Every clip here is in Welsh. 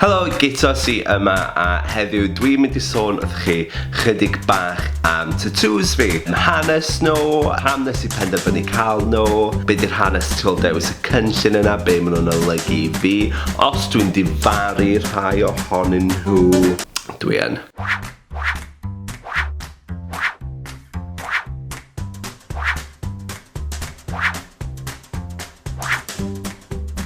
Helo, Gitos i yma a heddiw dwi'n mynd i sôn wrth chi chydig bach am tatŵs fi, hanes nhw, pam nes i penderfynu cael nhw, be di'r hanes tu ol dewis y cynllun yna, be maen nhw'n olygu i fi, os dwi'n difaru rhai ohonyn nhw, dwi yn.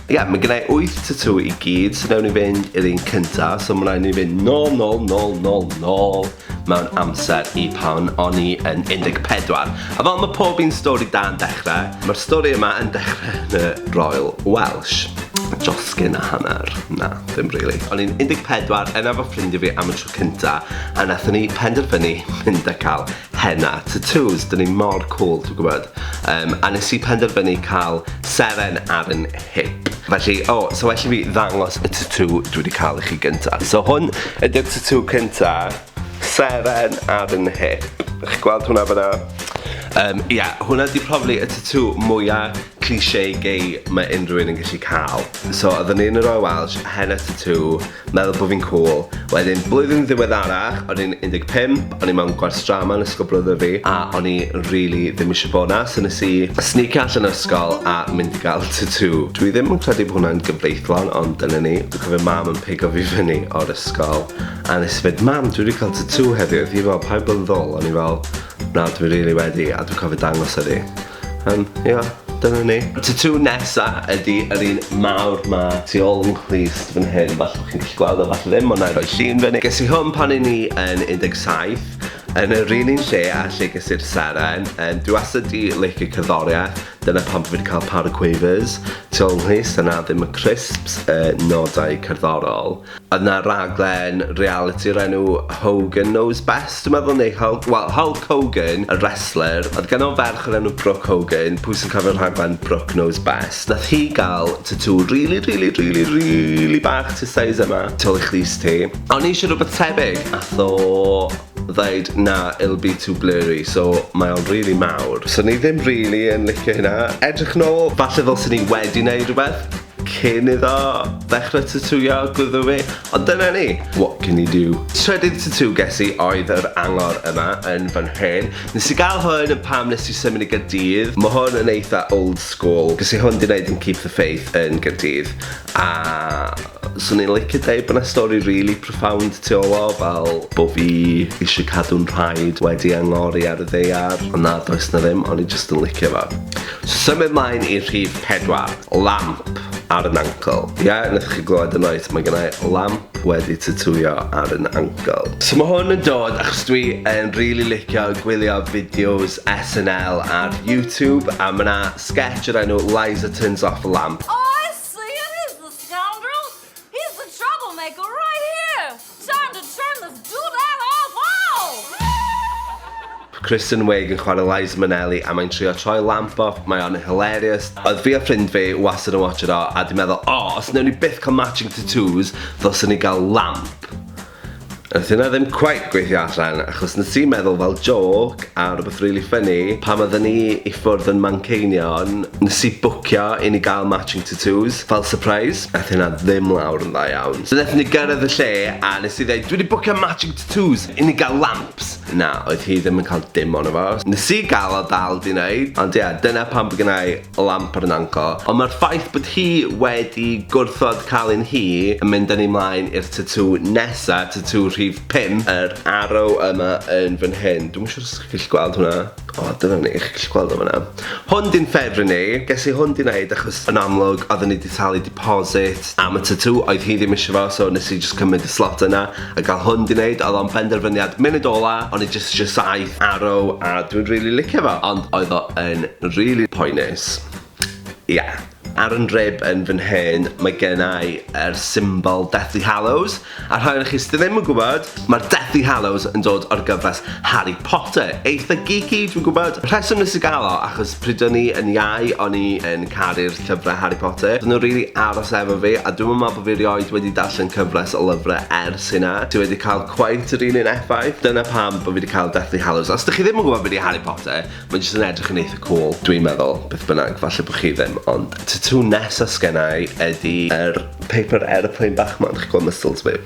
Ie, yeah, mae gennau 8 tatŵ i gyd, so newn ni fynd i'r un cynta, so mae'n rhaid ni fynd nôl, nôl, nôl, nôl, nôl mewn amser i pan o'n i yn 14. A fel mae pob un stori da yn dechrau, mae'r stori yma yn dechrau yn y Royal Welsh. Josgyn a hanner. Na, ddim really. O'n i'n 14, yna fo ffrindiau fi am y tro cynta, a nathon ni penderfynu mynd a cael Henna, tatŵs, dyn ni mor cwl, ti'n gwybod? Yym, a nes i penderfynu cael seren ar yn hip. Felly, o, so well i fi ddangos y tatŵ dwi wedi cael i chi gynta. So hwn ydy'r tatŵ cynta, seren ar yn hip. Chi'n gweld hwnna fyna? Um, ia, yeah, hwnna di probably y tatŵ mwya cliché gay mae unrhyw un yn gallu cael. So, oedden ni yn yr Oe Welsh, henna tatŵ, Meddwl bod fi'n cwl. Wedyn, blwyddyn ddiweddarach, o'n i'n 15, o'n i mewn gwers drama yn ysgol brwdr fi, a o'n i rili ddim isio bod 'na, so nes i snicio allan o ysgol a mynd i gael tatŵ. Dwi ddim yn credu bod hwnna'n gyfreithlon, ond dyna ni. Dwi'n cofio mam yn pigo fi fyny o'r ysgol, a nes i fynd, Mam, dwi wedi cael tatŵ heddiw. Oedd hi fel, paid bod yn ddwl. O'n i fel, na, dwi rili wedi, a dwi'n cofio dangos iddi. Yym, ia, dyna ni. Y tatŵ nesa ydi yr un mawr 'ma tu ôl yn nghlust fan hyn, falle bo' chi'n gallu gweld o, falle ddim, ond na'i roi llun fyny. Ges i hwn pan o'n i yn 17, yn yr un un lle â lle ges i'r seren, yym dwi wastad 'di licio cerddoriaeth, dyna pam bo' fi 'di ca'l par o quavers tu ôl yn nghlust, a 'na ddim y crisps, y nodau cerddorol. Oedd 'na raglen realiti o'r enw Hogan Knows Best dwi'n meddwl neu Hul- wel Hulk Hogan, y wrestler. Oedd ganddo fo ferch o'r enw Brooke Hogan, pwy sy'n cofio'r rhaglen Brooke Knows Best. Nath hi ga'l tatŵ rili rili rili rili bach tu size yma, tu ôl i chrys ti. A o'n i isio rwbeth tebyg, ath o ddeud na, it'll be too blurry, so mae o'n rili mawr. So o'n i ddim rili yn licio hynna. Edrych nôl, falle ddylsen i wedi neud rwbeth. Cyn iddo ddechrau tatŵio gwddw fi, ond dyna ni, what can you do. Trydydd tatŵ ges i oedd yr angor yma yn fy nhrên. Nes i gael hwn yn pam nes i symud i Gaerdydd. Mae hwn yn eitha old school, ges i hwn 'di neud yn Keep the Faith yn Gaerdydd, a 'swn i'n licio deud bod 'na stori rili profound tu ôl o, fel bo' fi isio cadw'n nhraed wedi angori ar y ddaear, ond na does 'na ddim, o'n i jyst yn licio fo. Symud mlaen i rhif pedwar. Lamp ar yn ankle. Ie, nathoch chi glywed y nois, mae gynna i lamp wedi tatŵio ar yn ankle. So mae hwn yn dod achos dwi yn rili licio gwylio fideos SNL ar YouTube a ma' 'na sgets o'r enw Liza Turns Off a Lamp. Here's the troublemaker right here! Time to turn this dude out off! Oh! Kristen Wiig yn chwarae Liza Minnelli a mae'n trio troi lamp off, mae o'n hilarious. Oedd fi a ffrind fi wastad yn watch it o a di meddwl, oh, os newn ni byth cael matching tattoos, ddylswn ni gael lamp. Nath hynna ddim cweit gweithio allan achos nes i meddwl fel jôc a rwbeth rili ffyni pan odden ni i ffwrdd yn Manceinion nes i bwcio i ni gael matching tatŵs fel sypreis. Nath hynna ddim lawr yn dda iawn so nathon ni gyrraedd y lle a nes i ddeud dwi di bwcio matching tatŵs i ni gael lamps. Na oedd hi ddim yn cael dim ono fo. Nes i gael o dal di neud ond ie dyna pam bo' gynna i lamp ar Nanco, ond mae'r ffaith bod hi wedi gwrthod cael un hi yn mynd â ni mlaen i'r tatŵ nesa, tatŵ rhif 5, yr arrow yma yn fan hyn. Dwi'm yn siŵr os chi'n gallu gweld hwnna. O, dyna ni, chi'n gallu gweld o fan'na. Hwn di'n ffefryn i, ges i hwn di wneud achos yn amlwg oedden ni di talu deposit am y tatŵ, oedd hi ddim isio fo, so nes i jyst cymryd y slot yna, A gall hwn di neud, oedd o'n benderfyniad munud ola, o'n i jyst isio saith arrow a dwi'n rili licio fo, ond oedd o yn rili poenus. Ia. Ar yn rib yn fy nhen, mae gennau yr symbol Deathly Hallows, a rhai o'ch chi sydd ddim yn gwybod, mae'r Deathly Hallows yn dod o'r gyfres Harry Potter, eitha geeky dwi'n gwybod, rheswm nes i gael o achos Pryd o'n i yn iau o'n i yn caru'r llyfre Harry Potter. Do'n nw rili aros efo fi a dwi'm yn me'wl bo' fi erioed wedi darllen cyfres o lyfre ers hynna sy wedi ca'l cweit yr un un effaith. Dyna pam bo' fi 'di ca'l Deathly Hallows. Os dych chi ddim yn gwbo be' 'di Harry Potter ma' jyst yn edrych yn eitha cŵl dwi'n meddwl. Beth bynnag, falle bo' chi ddim ond y tatŵ nesa sgenna i ydi yr paper aeroplane bach 'ma, dych chi'n gwel' muscles fi?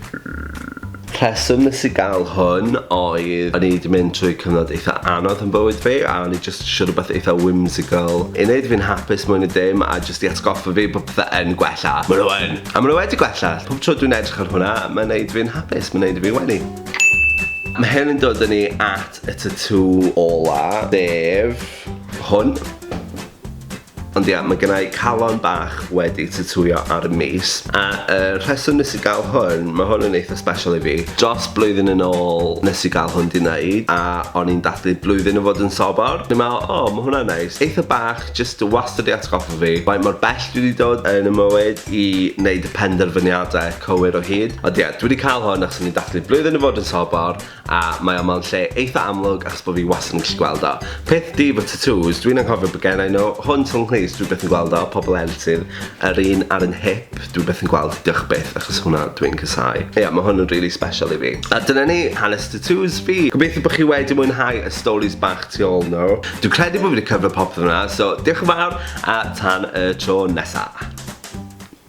Rheswm nes i gael hwn oedd o'n i 'di mynd trwy cyfnod eitha anodd yn bywyd fi a o'n i jyst isio rhywbeth eitha whimsical i neud fi'n hapus mwy na dim a jyst i atgoffa fi bod pethe yn gwella. Ma' nhw yn! A ma' nhw wedi gwella! Pob tro dwi'n edrych ar hwnna, mae'n neud fi'n hapus, mae'n neud i fi wenu. Ma' hyn yn dod â ni at y tatŵ ola, sef hwn. Ond ia, mae gennau calon bach wedi tytwio ar y mis, a y rheswm nes i gael hwn, mae hwn yn eitha special i fi. Dros blwyddyn yn ôl nes i gael hwn di wneud, a o'n i'n dathlu blwyddyn o fod yn sobor. O'n i'n meddwl, o, mae hwnna'n neis. Eitha bach, jyst wastad wedi atgoffa fi faint mor bell dwi wedi dod yn y mywyd i wneud y penderfyniadau cywir o hyd. Ond ia, dwi wedi cael hwn achos o'n i'n dathlu blwyddyn o fod yn sobor, A mae o mewn lle eitha amlwg achos bo fi wastad yn gallu gweld o. Peth du fo tatŵs, dwi'n anghofio be gennai nhw, hwn tu ol 'nghys dwi byth yn gweld o, pobl eraill sydd, yr un ar 'yn hip, dwi byth yn gweld, diolch byth achos hwnna dwi'n casau. Ia ma hwn yn rili sbeshal i fi. A dyna ni, hanes tatŵs fi! Gobeithio bo chi wedi mwynhau y storis bach tu ol nhw. Dwi'n credu bo fi 'di cyfro popeth yna, so diolch yn fawr a tan y tro nesa!